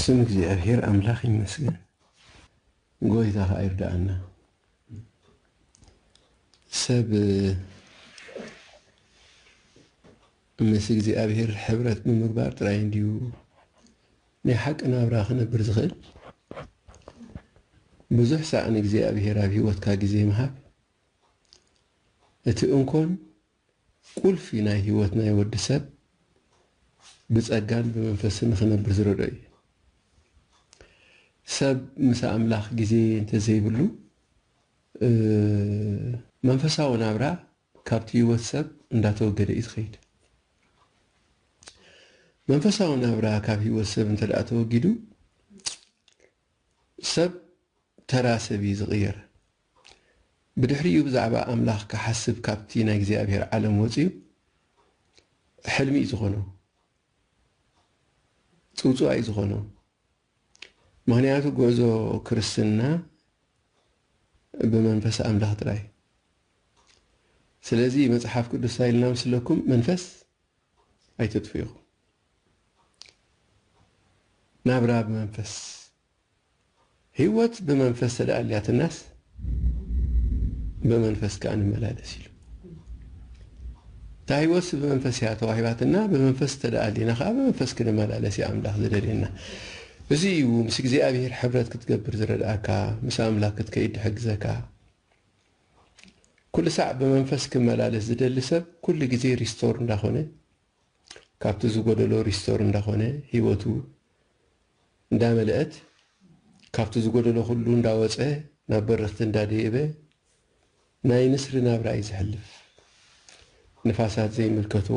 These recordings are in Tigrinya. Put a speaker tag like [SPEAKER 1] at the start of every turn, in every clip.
[SPEAKER 1] ስም እግዚኣብሔር ኣምላኽ ይመስገን ጎይታ ኸኣ ይርዳኣና ሰብ ምስ እግዚኣብሔር ሕብረት ብምግባር ጥራይ እንድዩ ናይ ሓቂ ናብራ ክነብር ዝኽእል ብዙሕ ሳዕ ንእግዚኣብሔር ኣብ ህይወትካ ግዜ ምሃብ እቲ እንኮን ቁልፊ ናይ ህይወት ናይ ወዲ ሰብ ብጸጋን ብመንፈስን ንኽነብር ዝረድኦ እዩ። ሰብ ምስ ኣምላኽ ግዜ እንተዘይብሉ መንፈሳዊ ናብራ ካብቲ ህይወት ሰብ እንዳተወገደ እዩ ዝኸይድ። መንፈሳዊ ናብራ ካብ ህይወት ሰብ እንተድኣ ተወጊዱ ሰብ ተራ ሰብ እዩ ዝቕየር። ብድሕሪኡ ብዛዕባ ኣምላኽ ክሓስብ ካብቲ ናይ እግዚኣብሔር ዓለም ወጺኡ ሕልሚ እዩ ዝኾኖ ጽውጽዋይ እዩ ዝኾኖ ምክንያቱ ጉዕዞ ክርስትና ብመንፈስ ኣምላኽ ጥራይ ስለዚ መጽሓፍ ቅዱስ እንታይ ኢልና ምስለኩም መንፈስ ኣይተጥፍኡ ናብራ ብመንፈስ ህይወት ብመንፈስ ተደኣልያትናስ ብመንፈስ ከኣ ንመላለስ ኢሉ እታ ህይወትሲ ብመንፈስ እያ ተዋሂባትና ብመንፈስ ተደኣሊና ከኣ ብመንፈስ ክንመላለስ እዩ ኣምላኽ ዝደልየና እዚ እዩ ምስ እግዚኣብሔር ሕብረት ክትገብር ዝረድኣካ ምስ ኣምላክ ክትከይድ ድሕግዘካ ኩሉ ሳዕ ብመንፈስ ክመላለስ ዝደሊ ሰብ ኩሉ ግዜ ሪስቶር እንዳኾነ ካብቲ ዝጎደሎ ሪስቶር እንዳኾነ ሂወቱ እንዳመለእት ካብቲ ዝጎደሎ ኩሉ እንዳወጸ ናብ በረኽቲ እንዳደየበ ናይ ንስሪ ናብራ እዩ ዘሕልፍ ንፋሳት ዘይምልከቶ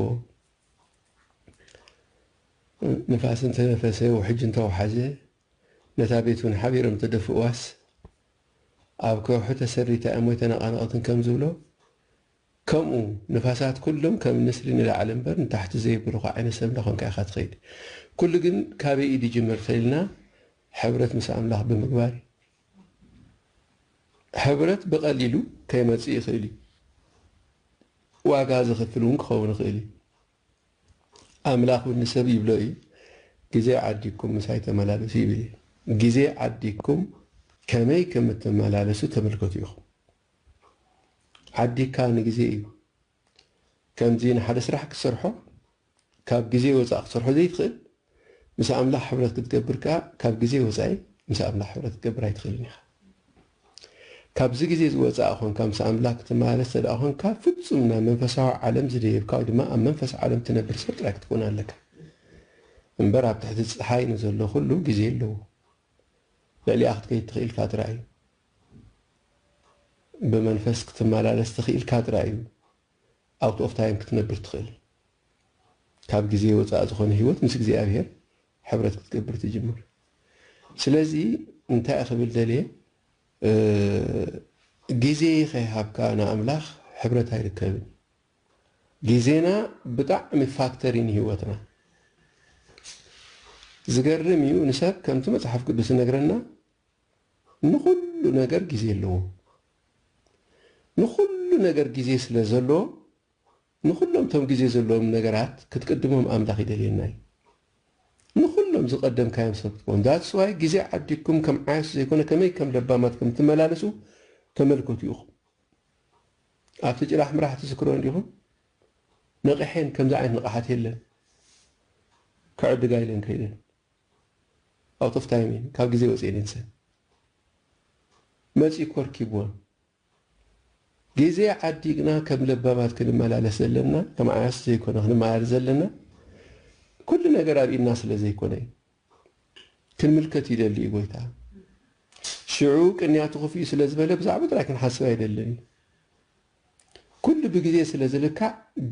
[SPEAKER 1] ንፋስ እንተነፈሰ ውሕጅ እንተወሓዘ ነታ ቤቱን ሓቢሮም ተደፍእዋስ ኣብ ከውሒ ተሰሪታ እያ ሞይተ ነቓነቕትን ከምዝብሎ ከምኡ ንፋሳት ኩሎም ከም ንስሪ ንላዕሊ እምበር ንታሕቲ ዘይብርኹ ዓይነት ሰብ እንዳኾንካ ኢኻ ትኸይድ። ኩሉ ግን ካበይ ኢድ ይጅምር ተኢልና ሕብረት ምስ ኣምላኽ ብምግባር እዩ። ሕብረት ብቀሊሉ ከይመጽእ ይኽእል እዩ። ዋጋ ዘኽፍል እውን ክኸውን ይኽእል እዩ። ኣምላኽ እውን ንሰብ ይብሎ እዩ ግዜ ዓዲግኩም ምሳይ ተመላለሱ ይብል እዩ። ግዜ ዓዲግኩም ከመይ ከም እትመላለሱ ተመልከቱ ኢኹም። ዓዲካ ንግዜ እዩ ከምዚ ንሓደ ስራሕ ክትሰርሖ ካብ ግዜ ወጻኢ ክትሰርሖ ዘይትኽእል ምስ ኣምላኽ ሕብረት ክትገብር ከኣ ካብ ግዜ ወጻኢ ምስ ኣምላኽ ሕብረት ክትገብር ኣይትኽእልን ኢኻ ካብዚ ግዜ ዝወጻእ ኮንካ ምስ ኣምላኽ ክትመላለስ ተደኣ ኮንካ ፍጹም ናብ መንፈሳዊ ዓለም ዝደየብካ ወይ ድማ ኣብ መንፈስ ዓለም ትነብር ሰብ ጥራይ ክትኮን ኣለካ እምበር ኣብ ትሕቲ ፀሓይ ንዘሎ ኩሉ ግዜ ኣለዎ ልዕሊኣ ክትከይድ ትኽእል ፋትራ እዩ ብመንፈስ ክትመላለስ ተኺኢልካ ጥራይ እዩ ኣውት ኦፍ ታይም ክትነብር ትኽእል። ካብ ግዜ ወጻኢ ዝኾነ ህይወት ምስ እግዚኣብሄር ሕብረት ክትገብር ትጅምር። ስለዚ እንታይ ክብል ደልየ ግዜ ከይሃብካ ንኣምላኽ ሕብረት ኣይርከብን እዩ። ግዜና ብጣዕሚ ፋክተር እዩ ንህይወትና። ዝገርም እዩ ንሰብ ከምቲ መጽሓፍ ቅዱስ ዝነግረና ንኹሉ ነገር ግዜ ኣለዎ። ንኹሉ ነገር ግዜ ስለ ዘለዎ ንኹሎም እቶም ግዜ ዘለዎም ነገራት ክትቅድሞም ኣምላኽ ይደልየና እዩ። ንኹሎም ዝቀደምካዮም ሰብ ክትከውን that's why ግዜ ዓዲግኩም ከም ዓያሹ ዘይኮነ ከመይ ከም ለባማት ከም እትመላለሱ ተመልከቱ ኢኹም። ኣብቲ ጭራሕ ምራሕ ትዝክርዎ እንዲኹም ነቒሐን ከምዚ ዓይነት ንቕሓት የለን ክዕድጋ ኢለን ከይደን። Out of time እየን ካብ ግዜ ወጺኤን እየን ሰብ መጺኡ ኮርኪብወን ግዜ ዓዲ ግና ከም ለባማት ክንመላለስ ዘለና ከም ዓያስ ዘይኮነ ክንመላለስ ዘለና ኩሉ ነገር ኣብ ኢድና ስለ ዘይኮነ እዩ ክንምልከት ይደሊ እዩ ጎይታ ሽዑ ቅንያቱ ክፍዩ ስለ ዝበለ ብዛዕባ ጥራይ ክንሓስብ ኣይደልን እዩ ኩሉ ብግዜ ስለ ዝልካዕ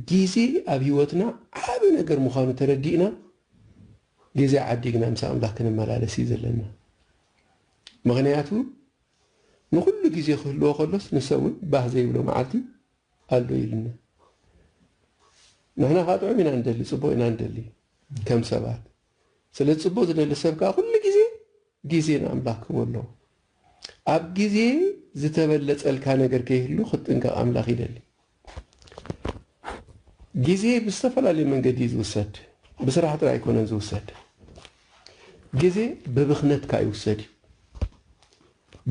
[SPEAKER 1] ግዜ ኣብ ህይወትና ዓቢ ነገር ምዃኑ ተረዲእና ግዜ ዓዲግና ምስ ኣምላኽ ክንመላለስ እዩ ዘለና። ምኽንያቱ ንኹሉ ግዜ ክህልዎ ከሎስ ንሰብውን ባህ ዘይብሎ መዓልቲ ኣሎ ኢሉና። ንሕና ከኣ ጥዑም ኢና ንደሊ ጽቡቕ ኢና ንደሊ ከም ሰባት። ስለ ጽቡቅ ዝደሊ ሰብ ከኣ ኩሉ ግዜ ግዜ ንኣምላኽ ክህቦ ኣለዎ። ኣብ ግዜ ዝተበለጸልካ ነገር ከይህሉ ክትጥንቀቅ ኣምላኽ ይደሊ። ግዜ ብዝተፈላለዩ መንገዲ እዩ ዝውሰድ ብስራሕ ጥራይ ኣይኮነን ዝውሰድ። ግዜ ብብኽነት ከኣ ይውሰድ እዩ።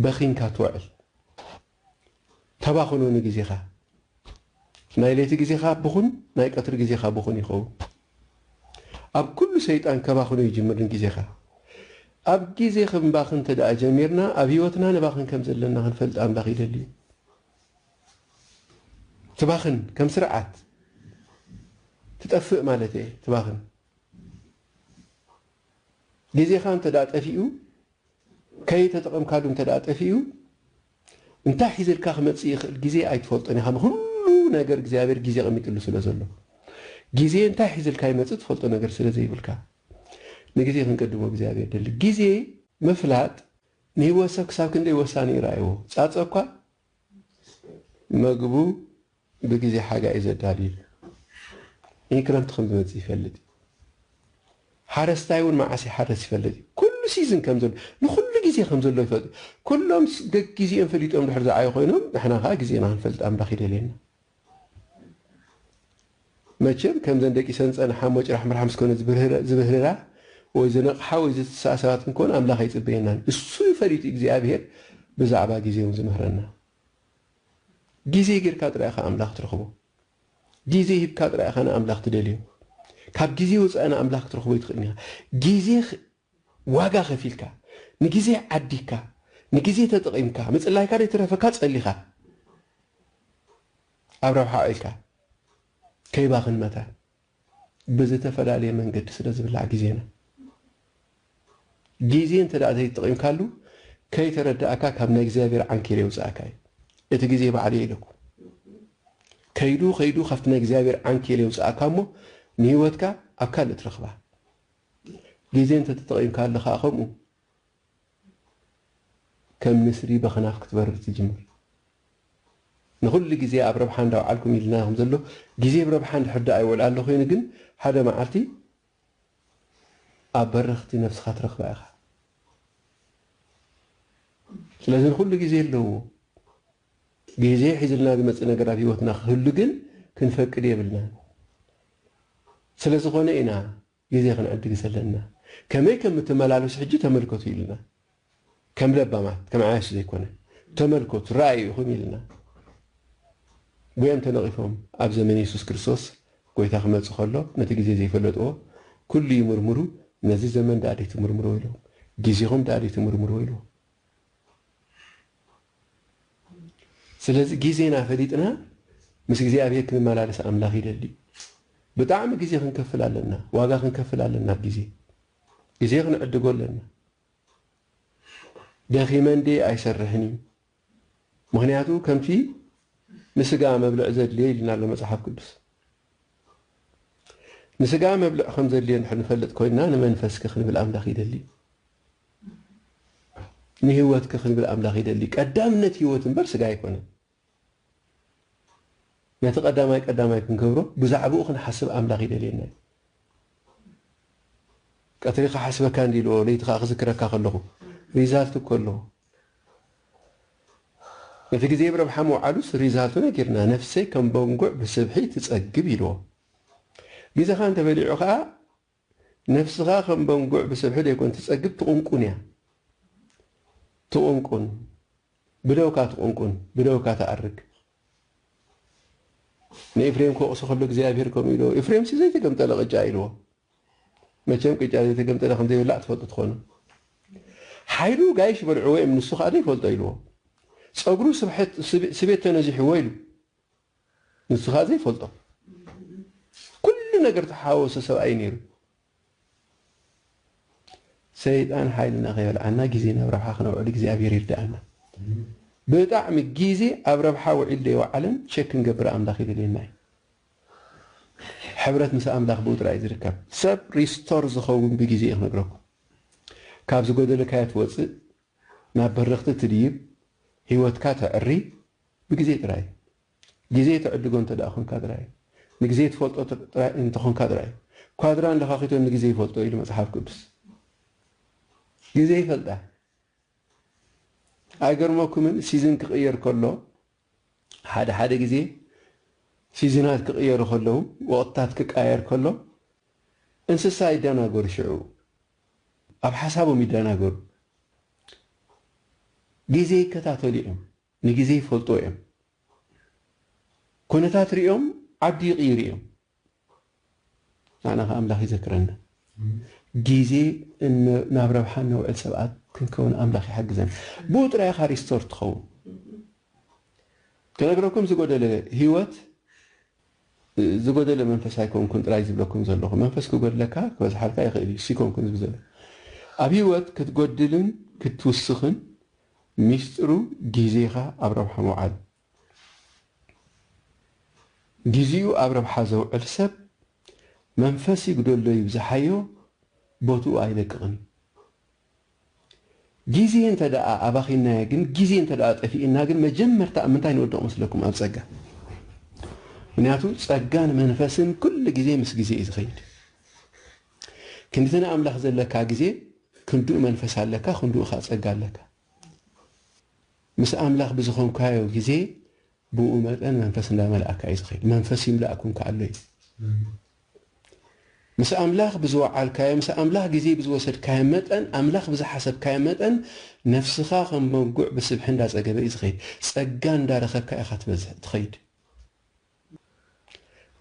[SPEAKER 1] በኺንካ ትውዕል። ተባኽኖ ንግዜኻ ናይ ለይቲ ግዜኻ ብኹን ናይ ቀትሪ ግዜኻ ብኹን ይኸውን ኣብ ኩሉ ሰይጣን ከባኽኖ ይጅምር ንግዜኻ ኣብ ግዜ ክንባኽን ተደኣ ጀሚርና ኣብ ህይወትና ንባኽን ከም ዘለና ክንፈልጥ ኣምላኽ ይደሊ እዩ ትባኽን ከም ስርዓት ትጠፍእ ማለት እየ ትባኽን ግዜኻ እንተ ጠፊኡ ከይተጠቐምካሉ እንተድኣ ጠፊኡ እንታይ ሒዝልካ ክመጽእ ይኽእል ግዜ ኣይትፈልጦን ኢኻ። ንኹሉ ነገር እግዚኣብሔር ግዜ ኣቐሚጥሉ ስለ ዘሎ። ግዜ እንታይ ሒዝልካ ይመጽእ ትፈልጦ ነገር ስለ ዘይብልካ ንግዜ ክንቀድሞ እግዚኣብሔር ይደሊ። ግዜ ምፍላጥ ንህይወት ሰብ ክሳብ ክንደይ ወሳኒ እዩ ረኣይዎ። ጻጸ እኳ መግቡ ብግዜ ሓጋይ እዩ ዘዳልዩ። እይ ክረምቲ ከም ዝመጽእ ይፈልጥ እዩ። ሓረስታይ እውን መዓስ ይሓርስ ይፈልጥ እዩ። ኩሉ ሲዝን ከም ዘሎ ንኹሉ ግዜ ከም ዘሎ ይፈልጥ እዩ። ኩሎም ገግዜኦም ፈሊጦም ድሕር ዝዓዩ ኮይኖም ንሕና ከኣ ግዜና ክንፈልጥ ኣምላኽ ይደልየና። መቸም ከምዘን ደቂሰን ዝጸንሓ ሞጭራሕምራሕ ምስ ኮነ ዝብህርራ ወይ ዝነቕሓ ወይ ዝትስኣ ሰባት ክንኮን ኣምላኽ ኣይጽበየናን። እሱ እዩ ፈሊጡ እግዚኣብሄር ብዛዕባ ግዜ ውን ዝምህረና። ግዜ ጌርካ ጥራይ ኢኻ ኣምላኽ ትረኽቦ። ግዜ ሂብካ ጥራይ ኢኻ ንኣምላኽ ትደልዮ። ካብ ግዜ ወጻኢ ንኣምላኽ ክትረኽቦ ኣይትኽእልን ኢኻ። ግዜ ዋጋ ከፊልካ ንግዜ ዓዲግካ ንግዜ ተጠቂምካ ምጽላይካ ደይትረፈካ ጸሊካ ኣብ ረብሓ ኣውዒልካ ከይባኽን መታን ብዝተፈላለየ መንገዲ ስለ ዝብላዕ ግዜና ግዜ እንተ ዘይተጠቂምካሉ ከይተረዳእካ ካብ ናይ እግዚኣብሔር ዓንኬል የውጽኣካ እዩ እቲ ግዜ ባዕሉ እየ ኢለኩ ከይዱ ከይዱ ካብቲ ናይ እግዚኣብሔር ዓንኬል የውጽኣካ እሞ ንህይወትካ ኣብ ካልእ ትረኽባ ግዜ እንተ ተጠቒምካሉ ከኣ ከምኡ ከም ንስሪ በኸናፍ ክትበርር ትጅምር። ንኹሉ ግዜ ኣብ ረብሓ እንዳ ውዓልኩም ኢልና ኢኹም ዘሎ ግዜ ብረብሓ እንድሕር ደኣ ይውዕላሉ ኮይኑ ግን ሓደ መዓልቲ ኣብ በረኽቲ ነብስኻ ትረኽባ ኢኻ። ስለዚ ንኹሉ ግዜ ኣለዎ። ግዜ ሒዙልና ዝመጽእ ነገር ኣብ ህይወትና ክህሉ ግን ክንፈቅድ የብልናን። ስለ ዝኾነ ኢና ግዜ ክንዕድግ ዘለና። ከመይ ከም እትመላለሱ ሕጂ ተመልከቱ ኢልና። ከም ለባማት፣ ከም ዓያሹ ዘይኮነ። ተመልከቱ፣ ረኣዩ ኢኹም ኢልና። ጐዮም ተነቒፎም ኣብ ዘመን የሱስ ክርስቶስ ጐይታ ክመጽእ ከሎ ነቲ ግዜ ዘይፈለጥዎ ኩሉ ይምርምሩ ነዚ ዘመን ደኣ ደይትምርምርዎ ኢሎም። ግዜኹም ደኣ ደይትምርምርዎ ኢልዎም። ስለዚ ግዜና ፈሊጥና ምስ እግዚኣብሄር ክንመላለስ ኣምላኽ ይደሊ። ብጣዕሚ ግዜ ክንከፍል ኣለና ዋጋ ክንከፍል ኣለና ኣብ ግዜ ግዜ ክንዕድጎ ኣለና። ደኺመ እንድየ ኣይሰርሕን እዩ ምኽንያቱ ከምቲ ንስጋ መብልዕ ዘድልዮ ኢልና ኣሎ መጽሓፍ ቅዱስ። ንስጋ መብልዕ ከም ዘድልዮ እንድሕር ንፈልጥ ኮይንና ንመንፈስኪ ክንብል ኣምላኽ ይደሊ እዩ። ንህይወትኪ ክንብል ኣምላኽ ይደሊ እዩ። ቀዳምነት ህይወት እምበር ስጋ ኣይኮነን። ነቲ ቀዳማይ ቀዳማይ ክንገብሮ ብዛዕባኡ ክንሓስብ ኣምላኽ ይደልየና እዩ። ቀትሪ ክሓስበካ እንዲ ኢልዎ ለይቲ ከዓ ክዝክረካ ከለኹ ሪዛልት እኮ ኣለኹ እቲ ግዜ ብረብሓ ምውዓሉስ ሪዛልቱ ነጊርና ነፍሰይ ከም በንጉዕ ብስብሒ ትጸግብ ኢልዎ። ግዜኻ እንተበሊዑ ከኣ ነፍስኻ ከም በንጉዕ ብስብሒ ደይኮን ትጸግብ ትቑንቁን እያ። ትቑንቁን። ብደውካ ትቑንቁን ብደውካ ትኣርግ። ንኤፍሬም ክወቕሶ ከሎ እግዚኣብሄር ከምኡ ኢልዎ፣ ኤፍሬምሲ ዘይተገምጠለ ቅጫ ኢልዎ። መቸም ቅጫ ዘይተገምጠለ ከም ዘይብላዕ ትፈልጡ ትኾኑ። ሓይሉ ጋይሽ በልዕዎ እዩም ንሱ ከኣ ዘይፈልጦ ኢልዎ። ጸጉሩ ስቤት ተነዚሕዎ ኢሉ ንሱ ከኣ ዘይፈልጦ። ኩሉ ነገር ተሓዋወሶ ሰብኣይ ነይሩ። ሰይጣን ሓይልና ከይበልዓና ግዜና ኣብ ረብሓ ክነውዕል እግዚኣብሔር ይርድኣና። ብጣዕሚ ግዜ ኣብ ረብሓ ውዒሉ ዘይወዓለን ቸክ ክንገብር ኣምላኽ ይደልየና እዩ። ሕብረት ምስ ኣምላኽ ብኡ ጥራይ እዩ ዝርከብ። ሰብ ሪስቶር ዝኸውን ብጊዜ እዩ ክነግረኩም ካብ ዝጎደለካዮ ትወጽእ ናብ በረኽቲ ትድይብ ሂወትካ ተዕሪ ብጊዜ ጥራይ እዩ ጊዜ ትዕድጎ እንተ ኮንካ ጥራይ እዩ ንጊዜ ትፈልጦ ጥራይ እንተ ኮንካ ጥራይ እዩ ኳድራን ለኻኺቶን ንጊዜ ይፈልጦ ኢሉ መጽሓፍ ቅዱስ ጊዜ ይፈልጣ ኣይገርመኩምን ሲዝን ክቕየር ከሎ ሓደ ሓደ ግዜ ሲዝናት ክቕየሩ ከለዉ ወቕትታት ክቃየር ከሎ እንስሳ ይደናገሩ ሽዑ ኣብ ሓሳቦም ይደናገሩ ግዜ ይከታተሉ እዮም ንግዜ ይፈልጥዎ እዮም ኩነታት ሪኦም ዓዲ ይቕይሩ እዮም ንዓና ከኣ ኣምላኽ ይዘክረና። ግዜ ናብ ረብሓ እነውዕል ሰባት ክንከውን ኣምላኽ ይሓግዘና። ብኡ ጥራይ ኢኻ ሪስቶርድ ትኸውን። ክነግረኩም ዝጎደለ ህይወት ዝጎደለ መንፈስ ኣይኮንኩን ጥራይ ዝብለኩም ዘለኹ። መንፈስ ክጎድለካ ክበዝሓልካ ይኽእል እዩ። እሱ ኣይኮንኩን ዝብል ዘለኹ። ኣብ ህይወት ክትጎድልን ክትውስኽን ሚስጥሩ ግዜኻ ኣብ ረብሓ ምውዓል እዩ። ጊዚኡ ኣብ ረብሓ ዘውዕል ሰብ መንፈስ ይጉደሎ ይብዛሓዮ ቦትኡ ኣይለቅቅን ጊዜ እንተ ደኣ ኣባኺናዮ ግን ጊዜ እንተ ደኣ ጠፊእና ግን መጀመርታ ኣብ ምንታይ ንወድቕ መስለኩም ኣብ ጸጋ ምክንያቱ ጸጋን መንፈስን ኩሉ ጊዜ ምስ ጊዜ እዩ ዝኸይድ ክንድቲ ንኣምላኽ ዘለካ ጊዜ ክንድኡ መንፈስ ኣለካ ክንድኡ ከኣ ጸጋ ኣለካ ምስ ኣምላኽ ብዝኾንካዮ ግዜ ብእኡ መጠን መንፈስ እንዳመልኣካ እዩ ዝኸይድ መንፈስ ይምላእኩም ከኣ ኣሎ እዩ ምስ ኣምላኽ ብዝወዓልካዮ ምስ ኣምላኽ ግዜ ብዝወሰድካዮ መጠን ኣምላኽ ብዝሓሰብካዮ መጠን ነፍስኻ ከም በጉዕ ብስብሒ እንዳጸገበ እዩ ዝኸይድ ጸጋ እንዳረኸብካ ኢኻ ትበዝሕ ትኸይድ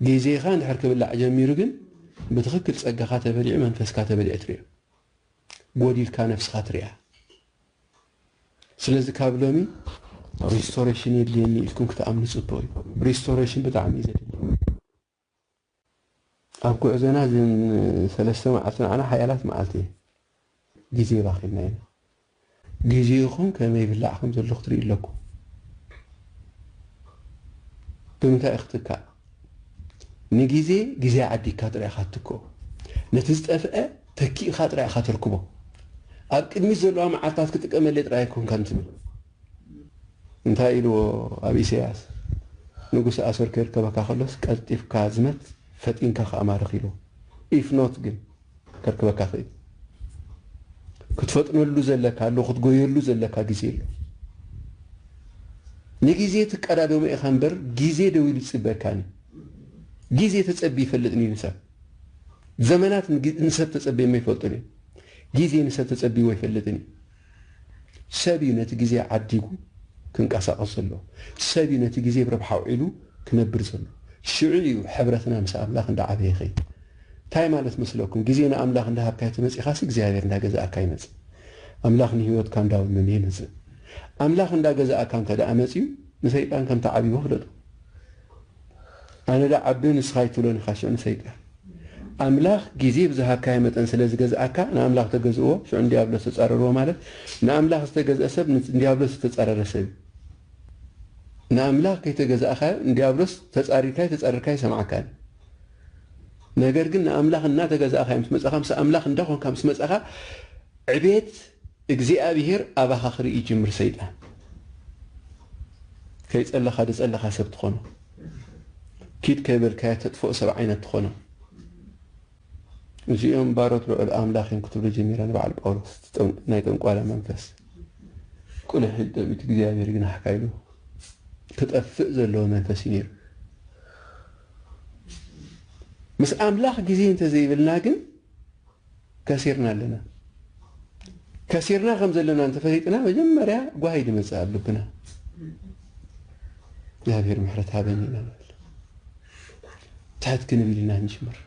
[SPEAKER 1] ግዜኻ እንድሕር ክብላዕ ጀሚሩ ግን ብትኽክል ጸጋኻ ተበሊዑ መንፈስካ ተበሊዑ ትሪኦ ጎዲልካ ነብስኻ ትሪኣ ስለዚ ካብ ሎሚ ሪስቶሬሽን የድልየኒ ኢልኩም ክትኣምኑ ጽቡቕ እዩ ሪስቶሬሽን ብጣዕሚ እዩ ዘድሊ ኣብ ጉዕዞና እዘን ሰለስተ መዓልቲ ንዓና ሓያላት መዓልቲ እየን። ግዜ ባኺንና ኢና። ግዜኹም ከመይ ይብላዕ ከም ዘሎ ክትርእዩ ኣለኩም። ብምንታይ እዩ ክትካእ? ንግዜ ግዜ ዓዲግካ ጥራይ ኢኻ ትትክኦ። ነቲ ዝጠፍአ ተኪእካ ጥራይ ኢኻ ተርክቦ። ኣብ ቅድሚት ዘለዋ መዓልትታት ክጥቀመለይ ጥራይ ኣይኮንካን ትብል። እንታይ ኢልዎ ኣብ ኢሰያስ ንጉሰ ኣሶር ከይርከበካ ከሎስ ቀልጢፍካ ዝመት ፈጢንካ ከኣ ማርኽ ኢልዎ ኢፍ ኖት ግን ከርክበካ ክኢል ክትፈጥነሉ ዘለካ ኣሎ ክትጎየሉ ዘለካ ግዜ ኣሎ ንግዜ ትቀዳደሞ ኢኻ እምበር ግዜ ደው ኢሉ ይጽበካን ግዜ ተጸቢ ይፈልጥን እዩ ንሰብ ዘመናት ንሰብ ተጸቢየሞ ይፈልጡን እዮም ግዜ ንሰብ ተጸቢዎ ይፈልጥን እዩ ሰብ እዩ ነቲ ግዜ ዓዲጉ ክንቀሳቐስ ዘለዎ። ሰብ እዩ ነቲ ግዜ ብረብሓ ኣውዒሉ ክነብር ዘለዎ። ሽዑ እዩ ሕብረትና ምስ ኣምላኽ እንዳ ዓበየ ይኸይድ። እንታይ ማለት መስለኩም? ግዜ ንኣምላኽ እንዳ ሃብካዮ ተመጺኻሲ እግዚኣብሔር እንዳ ገዛኣካ ይመጽእ። ኣምላኽ ንህይወትካ እንዳ ወነነ ይመጽእ። ኣምላኽ እንዳ ገዛኣካ እንተድኣ መጺኡ ንሰይጣን ከምቲ ዓቢዎ ፍለጦ። ኣነ ዶ ዓቢ ንስኻ ኣይትብሎን ኢኻ ሽዑ ንሰይጣን። ኣምላኽ ግዜ ብዝሃብካዮ መጠን ስለ ዝገዝኣካ ንኣምላኽ ተገዝእዎ ሽዑ ንድያብሎስ ተጻረርዎ ማለት ንኣምላኽ ዝተገዝአ ሰብ ንድያብሎስ ዝተጻረረ ሰብ እዩ። ንኣምላኽ ከይተገዛእካዮ ንድያብሎስ ተጻሪርካዮ ተጻሪርካዮ ኣይሰምዓካን እዩ። ነገር ግን ንኣምላኽ እናተገዛእካዮ ምስ መጻኻ ምስ ኣምላኽ እንዳኾንካ ምስ መጻኻ ዕቤት እግዚኣብሄር ኣባኻ ክርኢ ይጅምር ሰይጣን ከይጸለኻ ድጸለኻ ሰብ ትኾኖ ኪድ ከይበልካዮ ተጥፍኦ ሰብ ዓይነት ትኾኖ እዚኦም ባሮት ልዑል ኣምላኽ እዮም ክትብሉ ጀሚረ ንበዓል ጳውሎስ ናይ ጠንቋላ መንፈስ ቁልሕ ኢል ጠቢት እግዚኣብሄር ይግናሕካ ኢሉ ክጠፍእ ዘለዎ መንፈስ እዩ ነይሩ ምስ ኣምላኽ ግዜ እንተዘይብልና ግን ከሲርና ኣለና። ከሲርና ከም ዘለና እንተፈሊጥና መጀመርያ ጓሂ ድመጽእ ኣብ ልብና እግዚኣብሔር ምሕረት ሃበኒ ኢና ንብል። ትሕት ክንብል ኢና ንጅምር።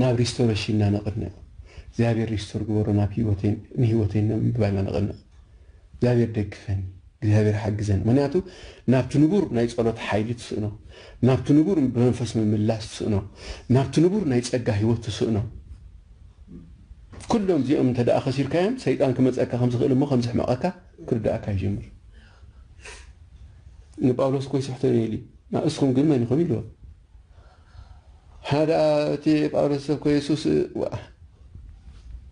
[SPEAKER 1] ናብ ሪስቶሬሽን ኢና ነቕንዕ። እግዚኣብሔር ሪስቶር ግበሮ ናብ ህይወተይ ንህይወተይ ንምባል ኢና ነቕንዕ። እግዚኣብሔር ደግፈኒ እግዚኣብሔር ሓግዘኒ ምክንያቱ ናብቲ ንቡር ናይ ጸሎት ሓይሊ ትስእኖ ናብቲ ንቡር ብመንፈስ ምምላስ ትስእኖ ናብቲ ንቡር ናይ ጸጋ ህይወት ትስእኖ ኩሎም እዚኦም እንተ ደኣ ከሲርካዮም ሰይጣን ክመጸካ ከም ዝኽእል እሞ ከም ዝሕመቐካ ክርዳእካ ይጀምር ንጳውሎስ እኮ ይስሕቶ ነይሉ ንእስኹም ግን መን ኢኹም ኢልዎ ንሕና ደኣ እቲ ጳውሎስ ሰብ እኮ የሱስ ዋእ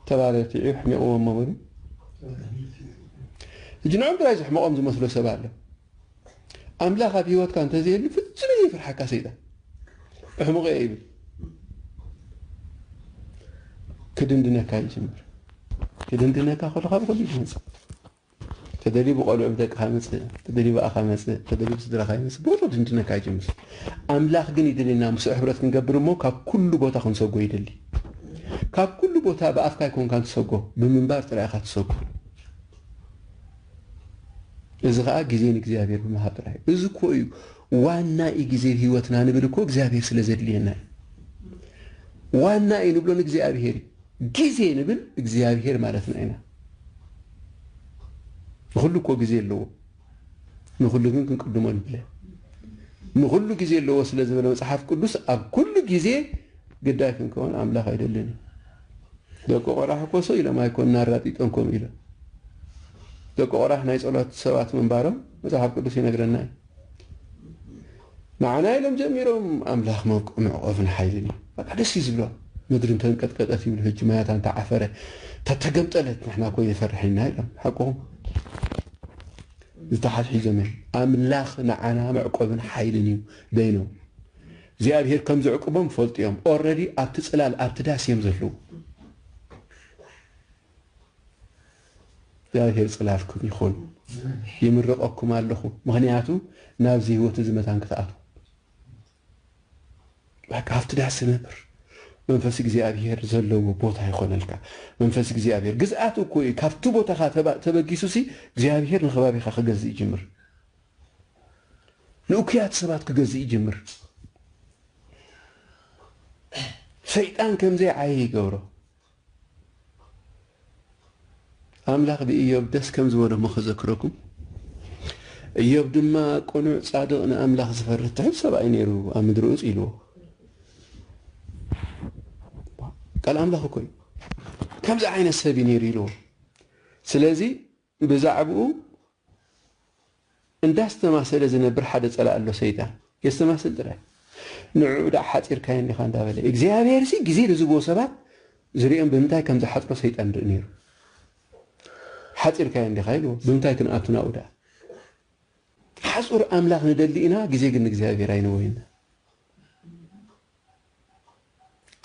[SPEAKER 1] ተባለ እቲ ዒብ ሕሚቕዎ እሞ በሉ ሕጂ ንዕኦም ጥራይ ዘሕምቖም ዝመስሎ ሰብ ኣሎ ኣምላኽ ኣብ ህይወትካ እንተዘየሉ ፍጹም እዩ ዘይፍርሓካ ሰይጣን እሕምቑ እየ ይብል ክድንድነካ ይጅምር ክድንድነካ ከሎ ካብ ኩሉ ይመጽእ ተደልዩ ብቆልዑ ብደቅኻ ይመጽእ ተደልዩ ብኣኻ ይመጽእ ተደልዩ ብስድራኻ ይመጽእ ብወትሩ ድንድነካ ይጅምር ኣምላኽ ግን ይደልየና ምስኡ ሕብረት ክንገብር እሞ ካብ ኩሉ ቦታ ክንሰጎ ይደሊ ካብ ኩሉ ቦታ ብኣፍካ ይኮንካ ትሰጎ ብምንባር ጥራይ ኢኻ ትሰጎ እዚ ከዓ ግዜ ንእግዚኣብሔር ብምሃብ ጥራይ እዚ እኮ እዩ ዋና እዩ ግዜ ህይወትና ንብል እኮ እግዚኣብሔር ስለ ዘድልየና እዩ ዋና እዩ ንብሎ ንእግዚኣብሔር እዩ ግዜ ንብል እግዚኣብሄር ማለትና ኢና። ንኹሉ እኮ ግዜ ኣለዎ፣ ንኹሉ ግን ክንቅድሞ ንብለ። ንኹሉ ግዜ ኣለዎ ስለ ዝበለ መጽሓፍ ቅዱስ ኣብ ኩሉ ግዜ ግዳይ ክንከውን ኣምላኽ ኣይደልን እዩ። ደቂ ቆራሕ እኮ ሰው ኢሎም ኣይኮን ኣራጢጦም ከምኡ ኢሎም። ደቂ ቆራሕ ናይ ጸሎት ሰባት ምንባሮም መጽሓፍ ቅዱስ ይነግረና እዩ። ንዓና ኢሎም ጀሚሮም ኣምላኽ መውቅዕ መዕቆብን ሓይልን እዩ በቃ ደስ እዩ ዝብሎም ምድሪ እንተንቀጥቀጠት ይብሉ ሕጂ ማያታ እንተዓፈረ እንተተገምጠለት ንሕና እኮ የፈርሕ ኢና ኢሎም ሓቁም ዝተሓሒዞም እዮም ኣምላኽ ንዓና መዕቆብን ሓይልን እዩ በይኖም እግዚኣብሄር ከም ዘዕቅቦም ፈልጡ እዮም ኦረዲ ኣብቲ ፅላል ኣብቲ ዳስ እዮም ዘለዉ እግዚኣብሄር ጽላልኩም ይኹን ይምርቐኩም ኣለኹ ምኽንያቱ ናብዚ ህይወት እዚ መታን ክትኣትዉ በቃ ኣብቲ ዳስ ነብር መንፈስ እግዚኣብሄር ዘለዎ ቦታ ይኾነልካ መንፈስ እግዚኣብሄር ግዝኣት እኮ እዩ ካብቲ ቦታኻ ተበጊሱ ሲ እግዚኣብሄር ንከባቢኻ ክገዝእ ይጅምር ንእኩያት ሰባት ክገዝእ ይጅምር ሰይጣን ከምዘይ ዓየ ይገብሮ ኣምላኽ ብእዮብ ደስ ከም ዝበሎ እሞ ከዘክረኩም፣ እዮብ ድማ ቅኑዕ፣ ጻድቕ፣ ንኣምላኽ ዝፈርህ ትሑት ሰብኣይ ነይሩ፣ ኣብ ምድሪ ኡጽ ኢልዎ። ቃል ኣምላኽ እኮ እዩ ከምዚ ዓይነት ሰብ እዩ ነይሩ ኢልዎ። ስለዚ ብዛዕብኡ እንዳስተማሰለ ዝነብር ሓደ ጸላኢ ኣሎ ሰይጣን የስተማስል ጥራይ ንዕዑ ደኣ ሓጺርካዮ እንዲኻ እንዳበለ እግዚኣብሔርሲ ግዜ ንዝህብዎ ሰባት ዝርእዮም ብምንታይ ከም ዝሓጽሮ ሰይጣን ይርኢ ነይሩ ሓጺርካዮ እንዲኻ ይብልዎ ብምንታይ ክንኣቱ ናብኡ ደኣ ሓጹር ኣምላኽ ንደሊ ኢና ግዜ ግን ንእግዚኣብሔር ኣይንወይና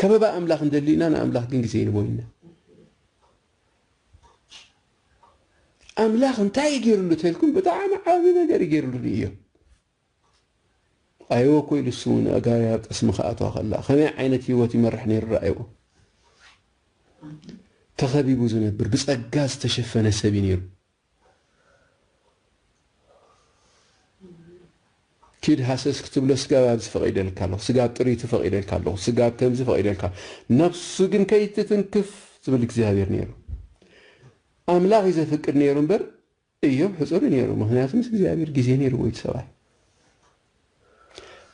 [SPEAKER 1] ከበባ ኣምላኽ ንደሊ ኢና ንኣምላኽ ግን ግዜ ይንቦይና ኣምላኽ እንታይ እዩ ገይርሉ ተልኩም ብጣዕሚ ዓቢ ነገር እዩ ገይርሉ ንእዮ ርኣይዎ እኮ ኢሉ ስሙ ንኣጋሪ ኣብ ጠስሚ ክኣትዋ ከላ ከመይ ዓይነት ህይወት ይመርሕ ነይሩ ረኣይዎ ተኸቢቡ ዝነብር ብጸጋ ዝተሸፈነ ሰብ እዩ ነይሩ ኪድ ሃሰስ ክትብሎ ስጋብ ኣብዚ ፈቒደልካ ኣለኹ፣ ስጋብ ጥሪቱ ፈቒደልካ ኣለኹ፣ ስጋብ ከምዚ ፈቒደልካ ነፍሱ ግን ከይትትንክፍ ዝብል እግዚኣብሔር ነይሩ። ኣምላኽ እዩ ዘፍቅድ ነይሩ እምበር እዮብ ሕጹር እዩ ነይሩ፣ ምኽንያቱ ምስ እግዚኣብሔር ግዜ ነይርዎ እቲ ሰብኣይ።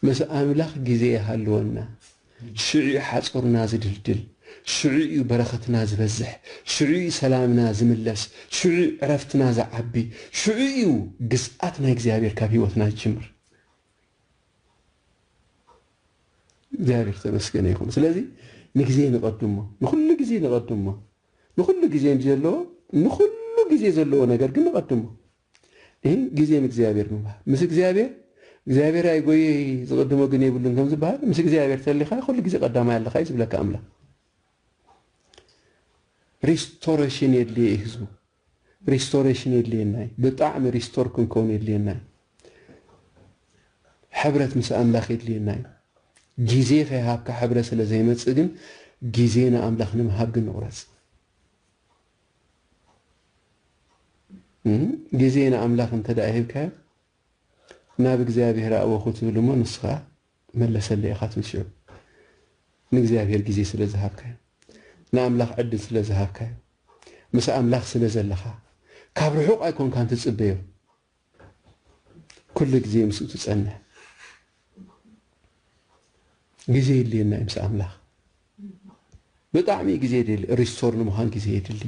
[SPEAKER 1] ምስ ኣምላኽ ግዜ ይሃልወና ሽዑ'ዩ ሓጹርና ዝድልድል ሽዑ'ዩ በረኸትና ዝበዝሕ ሽዑ'ዩ ሰላምና ዝምለስ ሽዑ'ዩ ዕረፍትና ዝዓቢ ሽዑ'ዩ ግዝኣት ናይ እግዚኣብሔር ካብ ሕይወትና ዝጅምር እግዚኣብሔር ዝተመስገነ ይኹን ስለዚ ንግዜ ንቐድሞ ንኹሉ ግዜ ንቐድሞ ንኹሉ ግዜ እንጂ ዘለዎ ንኹሉ ግዜ ዘለዎ ነገር ግን ንቐድሞ እሂ ግዜ ንእግዚኣብሔር ምባል ምስ እግዚኣብሔር እግዚኣብሔር ኣይጎየይ ዝቅድሞ ግን የብሉን ከም ዝበሃል ምስ እግዚኣብሔር ተሊካ ኩሉ ግዜ ቀዳማይ ኣለካ እዩ ዝብለካ ኣምላክ ሪስቶሬሽን የድልየ እዩ ህዝቡ ሪስቶሬሽን የድልየና እዩ ብጣዕሚ ሪስቶር ክንከውን የድልየና እዩ ሕብረት ምስ ኣምላኽ የድልየና እዩ ግዜ ከይሃብካ ሕብረ ስለ ዘይመፅእ ግን ግዜ ንኣምላኽ ንምሃብ ግን ንቑረፅ ግዜ ንኣምላኽ እንተድኣ ሂብካዮ ናብ እግዚኣብሄር ኣእወኹ ትብል እሞ ንስኻ መለሰለይ ኢኻ ትብል ሽዑ ንእግዚኣብሄር ግዜ ስለ ዝሃብካዮ ንኣምላኽ ዕድል ስለ ዝሃብካዮ ምስ ኣምላኽ ስለ ዘለኻ ካብ ርሑቕ ኣይኮንካን ትጽበዮ ኩሉ ግዜ ምስኡ ትጸንሕ ግዜ የድልየና እዩ ምስ ኣምላኽ ብጣዕሚ ግዜ የድሊ ሪስቶር ንምዃን ግዜ የድሊ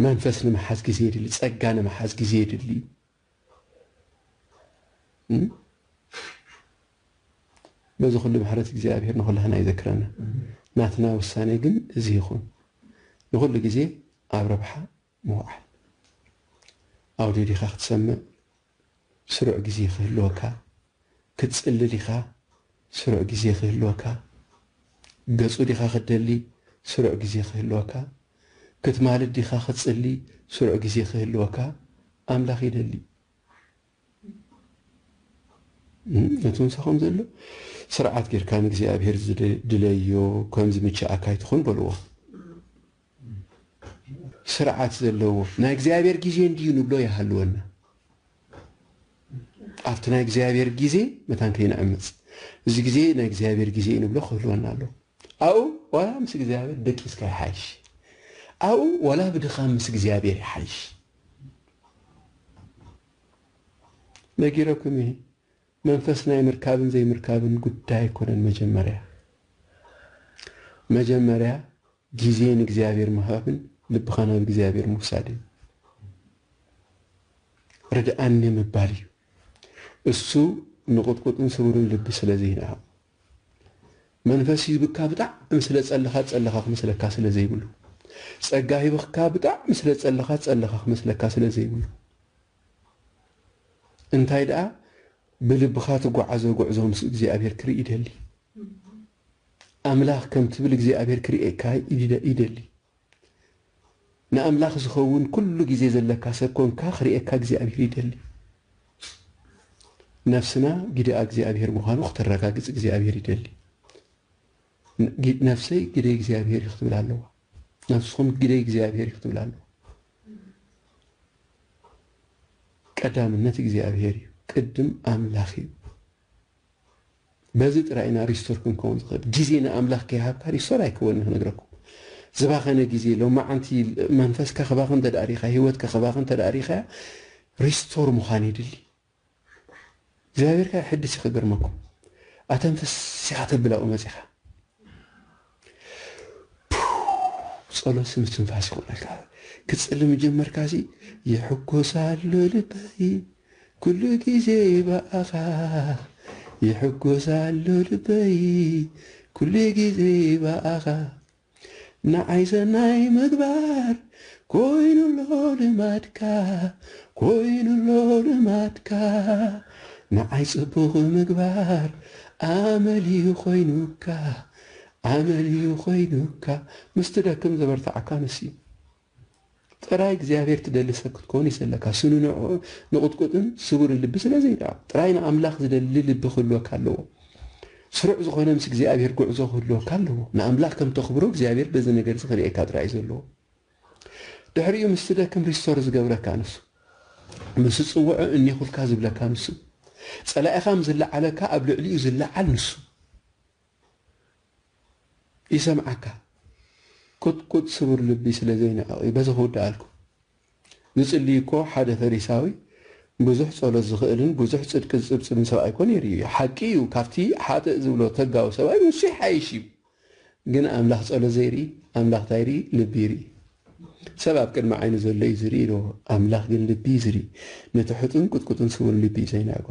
[SPEAKER 1] መንፈስ ንምሓዝ ግዜ የድሊ ጸጋ ንምሓዝ ግዜ የድሊ እዩ በዚ ኩሉ ምሕረት እግዚኣብሔር ንኹላህና ይዘክረና። ናትና ውሳኔ ግን እዚ ይኹን። ንኹሉ ግዜ ኣብ ረብሓ ምውዓል ኣውድዮ ዲኻ ክትሰምዕ ስሩዕ ግዜ ክህልወካ፣ ክትጽሊ ዲኻ ስሩዕ ግዜ ክህልወካ፣ ገጹ ዲኻ ክትደሊ ስሩዕ ግዜ ክህልወካ፣ ክትማልድ ዲኻ ክትጽሊ ስሩዕ ግዜ ክህልወካ፣ ኣምላኽ ይደሊ። ነቲ ምሳኹም ዘሎ ስርዓት ጌርካ ንእግዚኣብሔር ድለዮ ከም ዝምችኣካ ኣይትኹን በልዎ። ስርዓት ዘለዎ ናይ እግዚኣብሔር ግዜ እንድዩ ንብሎ ይሃልወና ኣብቲ ናይ እግዚኣብሔር ግዜ መታን ከይንዕምፅ እዚ ግዜ ናይ እግዚኣብሔር ግዜ እዩ ንብሎ ክህልወና ኣለዎ ኣብኡ ዋላ ምስ እግዚኣብሔር ደቂስካ ይሓይሽ ኣብኡ ዋላ ብድኻም ምስ እግዚኣብሔር ይሓይሽ ነጊረኩም እየ መንፈስ ናይ ምርካብን ዘይምርካብን ጉዳይ ኣይኮነን መጀመርያ መጀመርያ ግዜ ንእግዚኣብሔር ምሃብን ልብኻ ናብ እግዚኣብሔር ምውሳድን ርድኣኒ ምባል እዩ። እሱ ንቕጥቁጥን ስቡርን ልቢ ስለ ዘይንኣቕ መንፈስ ሂብካ ብጣዕሚ ስለ ጸለኻ ጸለኻ ክመስለካ ስለ ዘይብሉ ጸጋ ሂብካ ብጣዕሚ ስለ ጸለኻ ጸለኻ ክመስለካ ስለ ዘይብሉ እንታይ ደኣ ብልብኻ ትጓዓዞ ጉዕዞ ምስ እግዚኣብሔር ክርኢ ይደሊ። ኣምላኽ ከም ትብል እግዚኣብሔር ክርእየካ ይደሊ። ንኣምላኽ ዝኸውን ኩሉ ግዜ ዘለካ ሰብ ኮንካ ክርእየካ እግዚኣብሔር ይደሊ። ነፍስና ግደኣ እግዚኣብሔር ምዃኑ ክተረጋግጽ እግዚኣብሔር ይደሊ። ነፍሰይ ግደ እግዚኣብሔር እዩ ክትብል ኣለዋ። ነፍስኹም ግደ እግዚኣብሔር እዩ ክትብል ኣለዋ። ቀዳምነት እግዚኣብሔር እዩ። ቅድም ኣምላኽ እዩ። በዚ ጥራይ ኢና ሪስቶር ክንከውን ዝክእል ግዜ ንኣምላክ ከይሃብካ ሪስቶር ኣይክወንን ክነግረኩም ዝባከነ ግዜ ሎማዓንቲ መንፈስካ ክባክን እንተ ሪኢካ ሂወትካ ክባክን እንተ ሪኢካያ ሪስቶር ምኳን የድሊ እግዚኣብሔር ከኣ የሕድስ እዩ ክገርመኩም ኣተንፍስ ኢካ ተብል ኣብኡ መጺካ ጸሎት ምስትንፋስ ይኾነልካ ክትጽሊ ምጀመርካሲ ይሕጎስ ኣሎ ልበይ ኩሉ ግዜ ብኣኻ ይሕጎስ ኣሎ ልበይ ኩሉ ግዜ ብኣኻ ንዓይ ሰናይ ምግባር ኮይኑ ኣሎ ልማድካ ኮይኑ ኣሎ ልማድካ ንዓይ ጽቡቕ ምግባር ኣመል እዩ ኮይኑካ ኣመል እዩ ኮይኑካ ምስ ትደክም ዘበርትዓካ ንሱ እዩ ጥራይ እግዚኣብሔር ትደሊ ሰብ ክትከውን እዩ ዘለካ ስንንዑ ንቁጥቁጥን ስቡርን ልቢ ስለ ዘይድኣብ ጥራይ ንኣምላኽ ዝደሊ ልቢ ክህልወካ ኣለዎ ስሩዕ ዝኾነ ምስ እግዚኣብሔር ጉዕዞ ክህልወካ ኣለዎ ንኣምላኽ ከም ተኽብሮ እግዚኣብሔር በዚ ነገር እዚ ክርእየካ ጥራይ እዩ ዘለዎ ድሕሪኡ ምስ ትደክም ሪስቶር ዝገብረካ ንሱ ምስ ጽውዑ እኔኹልካ ዝብለካ ንሱ ጸላኢኻ ምስ ዝለዓለካ ኣብ ልዕሊኡ ዝለዓል ንሱ ይሰምዓካ ቁጥቁጥ ስቡር ልቢ ስለ ዘይንዕቕ እዩ በዚ ክውድኣልኩም ዝጽልይ እኮ ሓደ ፈሪሳዊ ብዙሕ ጸሎት ዝኽእልን ብዙሕ ጽድቂ ዝጽብጽብን ሰብኣይ እኮ ነይሩ እዩ ሓቂ እዩ ካብቲ ሓጥእ ዝብሎ ተጋዊ ሰብኣይ ንሱ ይሓይሽ እዩ ግን ኣምላኽ ጸሎት ዘይርኢ ኣምላኽ ታይ ይርኢ ልቢ ይርኢ ሰብ ኣብ ቅድሚ ዓይኑ ዘሎ እዩ ዝርኢ ኢልዎ፣ ኣምላኽ ግን ልቢ እዩ ዝርኢ፣ ነቲ ሕጡን ቁጥቁጥን ስውርን ልቢ እዩ ዘይነዕቆ።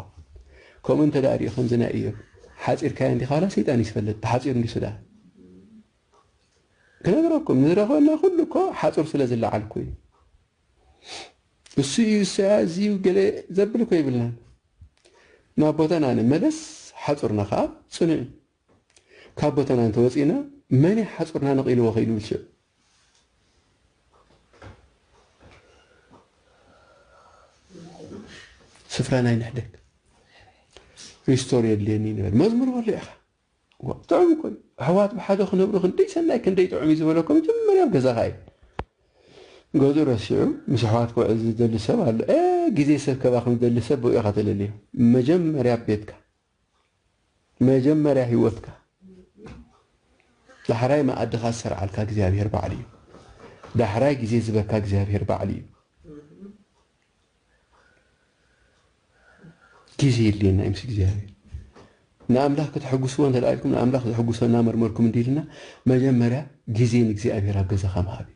[SPEAKER 1] ከምኡ እንተ ደኣ ርእዩ ከምዚ ናይ እዮብ ሓጺርካዮ እንዲኻ ዋላ ሰይጣን እዩ ዝፈልጥ ብሓጺሩ እንድዩሱ ደኣ ክነግረኩም ንዝረኸበና ኩሉ እኮ ሓጹር ስለ ዝለዓልኩ እዩ እሱ እዩ እሰያ እዚ እዩ ገለ ዘብል እኮ ይብልናን ናብ ቦታና ንመለስ ሓጹርና ከኣ ጽኑዕ እዩ ካብ ቦታና እንተወጺእና መን እዩ ሓጹርና ነቒልዎ ከይዱ ብልሽው? ስፍራና ኣይንሕደግ። ሪስቶር የድልየኒ ንበል። መዝሙር በሎ ኢኻ። ጥዑም እኮ እዩ። ኣሕዋት ብሓደ ክነብሩ ክንደይ ሰናይ ክንደይ ጥዑም እዩ ዝበለኮ መጀመርያ ኣብ ገዛኻ እዩ። ገዝኡ ረሲዑ ምስ ኣሕዋት ክውዕል ዝደሊ ሰብ ኣሎ። ግዜ ሰብ ከባኽን ዝደሊ ሰብ ብኡ ኢኻ ተለልዮ። መጀመርያ ኣብ ቤትካ መጀመርያ ሂወትካ ዳሕራይ መኣድኻ ዝሰርዓልካ እግዚኣብሄር ባዕሉ እዩ ዳሕራይ ግዜ ዝበካ እግዚኣብሄር ባዕሉ እዩ ግዜ የድልየና እዩ ምስ እግዚኣብሄር ንኣምላኽ ከተሐጉስዎ እንተ ኢልኩም ንኣምላኽ ዘሐጉሶ እናመርመርኩም እንዲ ኢልና መጀመርያ ግዜ ንእግዚኣብሄር ኣብ ገዛኻ ምሃብ እዩ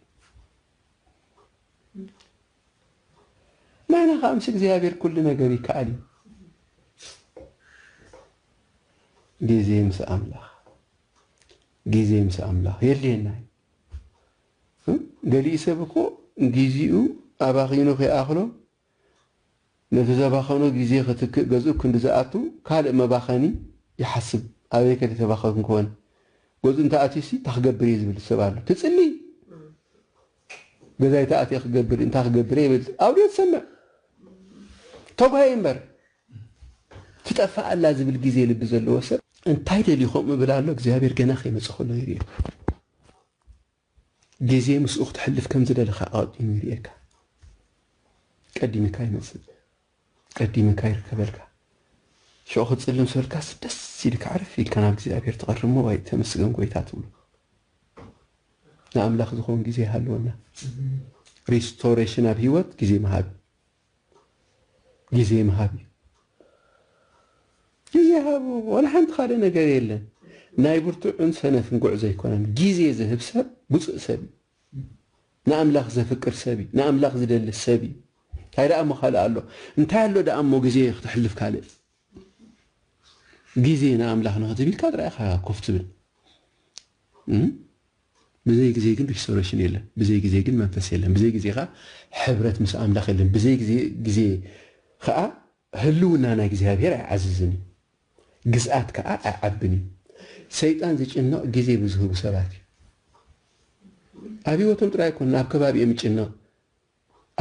[SPEAKER 1] ናህና ከኣ ምስ እግዚኣብሔር ኩሉ ነገር ይከኣል እዩ። ጊዜ ምስ ኣምላኽ ጊዜ ምስ ኣምላኽ የድልየና እዩ። ገሊኡ ሰብ እኮ ጊዜኡ ኣባኺኑ ከይኣኽሎ ነቲ ዘባኸኖ ጊዜ ክትክእ ገዝኡ ክንዲ ዝኣቱ ካልእ መባኸኒ ይሓስብ ኣበይ ከ ተባኸንኩ ኮን ገዝኡ እንተኣትዩሲ እንታይ ክገብር እየ ዝብል ሰብ ኣሎ ትጽሊ ገዛይ ተኣትየ ክገብር እንታይ ክገብር እየ ይብል ኣውድዮ ትሰምዕ ተጓየ እምበር ትጠፍእ ኣላ ዝብል ግዜ ልቢ ዘለዎ ሰብ እንታይ ደልዩ ከምኡ ይብል ኣሎ እግዚኣብሔር ገና ከይመፀ ከሎ ይርዮ ግዜ ምስኡ ክትሕልፍ ከም ዝደለኻ ኣቐዲሙ ይርእየካ ቀዲምካ ይመፅእ ቀዲመካ ይርከበልካ ሽዑ ክጽልም ስበልካስ ደስ ኢልካ ዕርፍ ኢልካ ናብ እግዚኣብሔር ትቀርብ እሞ ዋይ ተመስገን ጎይታ ትብሎ ንኣምላክ ዝኮን ግዜ ይሃልወና ሪስቶሬሽን ኣብ ሂወት ግዜ ምሃብ ግዜ ምሃብ እዩ ግዜ ሃቡ ወላ ሓንቲ ካልእ ነገር የለን ናይ ብርቱዕን ሰነፍን ጉዕዞ ኣይኮነን ግዜ ዝህብ ሰብ ብፁእ ሰብ እዩ ንኣምላኽ ዘፍቅር ሰብ እዩ ንኣምላኽ ዝደሊ ሰብ እዩ እንታይ ደኣ እሞ ካልእ ኣሎ እንታይ ኣሎ ደኣ እሞ ግዜ ክተሕልፍ ካልእ ግዜ ንኣምላኽ ንክትብ ኢልካ ጥራይ ኢኻ ኮፍ ትብል ብዘይ ግዜ ግን ሪስቶሬሽን የለን ብዘይ ግዜ ግን መንፈስ የለን ብዘይ ግዜ ከዓ ሕብረት ምስ ኣምላኽ የለን ብዘይ ግዜ ከዓ ህልውና ናይ እግዚኣብሔር ኣይዓዝዝን እዩ፣ ግዝኣት ከኣ ኣይዓብን እዩ። ሰይጣን ዝጭነቕ ጊዜ ብዝህቡ ሰባት እዩ። ኣብ ሕይወቶም ጥራይ ኣይኮነን ኣብ ከባቢኦም ይጭነቕ፣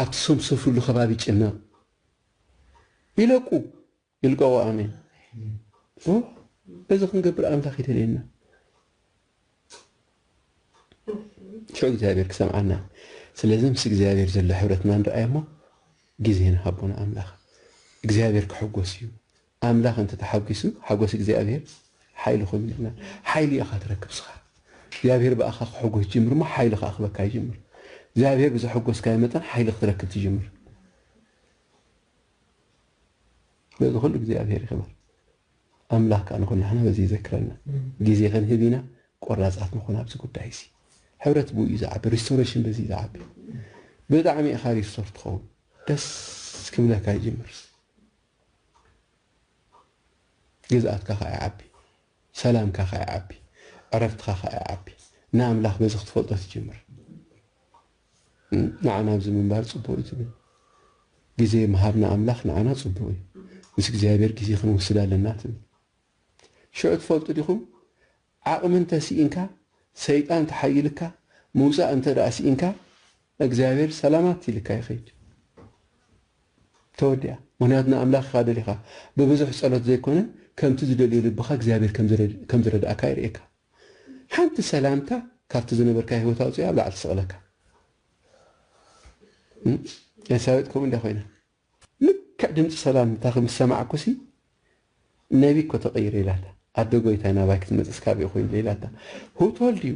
[SPEAKER 1] ኣብቲ ሶም ዝሰፍርሉ ከባቢ ይጭነቕ። ይለቁ ይልቀቑ ኣሜን። እዚ ክንገብር ኣምላኽ ይደልየና። ሸው እግዚኣብሔር ክሰምዓና ስለዚ ምስ እግዚኣብሔር ዘሎ ሕብረትና ንርኣይ እሞ ግዜ ንሃቦ ንኣምላኽ እግዚኣብሔር ክሕጎስ እዩ ኣምላኽ እንተ ተሓጒሱ ሓጎስ እግዚኣብሔር ሓይሊ ኮይኑ ኢልና ሓይሊ ኢኻ ትረክብ ስኻ እግዚኣብሔር ብኣኻ ክሕጎስ ጅምር እሞ ሓይሊ ከዓ ክበካ ይጅምር እግዚኣብሔር ብዘሐጎስካዮ መጠን ሓይሊ ክትረክብ ትጅምር በዚ ኩሉ እግዚኣብሔር ይኽበር ኣምላኽ ከኣ ንኹላህና በዚ ይዘክረና። ግዜ ክንህብ ኢና ቆራጻት ንኹን ኣብዚ ጉዳይ እዚ። ሕብረት ብኡ እዩ ዝዓቢ ሪስቶረሽን በዚ እዩ ዝዓቢ። ብጣዕሚ ኢኻ ሪስቶር ትኸውን ደስ ክብለካ ይጅምርስ ግዝኣትካ ከኣ ይዓቢ ሰላምካ ከኣ ይዓቢ ዕረፍትኻ ከኣ ይዓቢ ንኣምላኽ በዚ ክትፈልጦ ትጅምር። ንዓና ኣብዚ ምንባር ጽቡቅ እዩ ትብል ግዜ ምሃብ ንኣምላኽ ንዓና ጽቡቅ እዩ ምስ እግዚኣብሔር ግዜ ክንወስድ ኣለና ትብል ሽዑ ትፈልጡ ዲኹም ዓቅሚ እንተ ሲኢንካ ሰይጣን ተሓይልካ ምውጻእ እንተ ደኣ ሲኢንካ እግዚኣብሔር ሰላማት ኢልካ ይኸይድ ተወዲኣ ምክንያቱ ንኣምላኽ ኢኻ ደሊኻ ብብዙሕ ጸሎት ዘይኮነ ከምቲ ዝደልዮ ልብኻ እግዚኣብሔር ከም ዝረድኣካ የርእየካ ሓንቲ ሰላምታ ካብቲ ዝነበርካዮ ሂወት ኣውጺኣ ኣብ ላዕሊ ትስቕለካ ኤልሳቤጥ ከምኡ እንድያ ኮይና ልክዕ ድምጺ ሰላምታኺ ምስ ሰማዕኩሲ ነቢ እኮ ተቐይረ ኢላታ ኣደ ጎይታይ ናባይ ክትመጽስ ካብኡ ኮይኑ ኢላታ ሁቶል ድዩ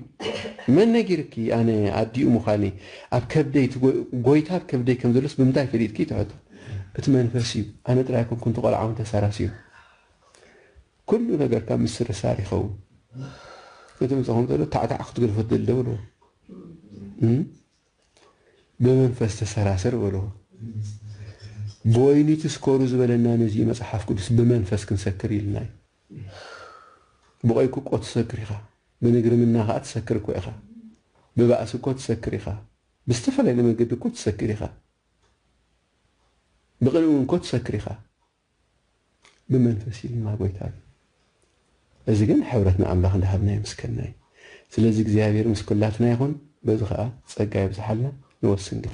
[SPEAKER 1] መን ነጊርኪ ኣነ ኣዲኡ ምዃኒ ኣብ ከብደይ ጎይታ ኣብ ከብደይ ከም ዘሎስ ብምንታይ ፈሊጥኪ ትሕቶ እቲ መንፈስ እዩ ኣነ ጥራይ ኣይኮንኩን እቲ ቆልዓ እውን ተሳራሲዩ ኩሉ ነገርካ ምስርሳር ይኸውን እቲ ምሳኹም ዘሎ ታዕታዕ ክትግድፎ ትደሊ ዶ በልዎ እም ብመንፈስ ተሰራሰር በልዎ ብወይኒ ትስከሩ ዝበለና ነዚ እዩ መጽሓፍ ቅዱስ ብመንፈስ ክንሰክር ኢልና እዩ ብቆይኩ እኮ ትሰክር ኢኻ ብንግርምና ከኣ ትሰክር እኮ ኢኻ ብባእሲ እኮ ትሰክር ኢኻ ብዝተፈላለየ መንገዲ እኮ ትሰክር ኢኻ ብቅንእውን እኮ ትሰክር ኢኻ ብመንፈስ ኢልና ጎይታ ግን እዚ ግን ሕብረት ንኣምላኽ እንዳሃብና የምስከና እዩ ስለዚ እግዚኣብሔር ምስ ኩላትና ይኹን በዚ ከኣ ጸጋ የብዝሓልና ንወስን ግን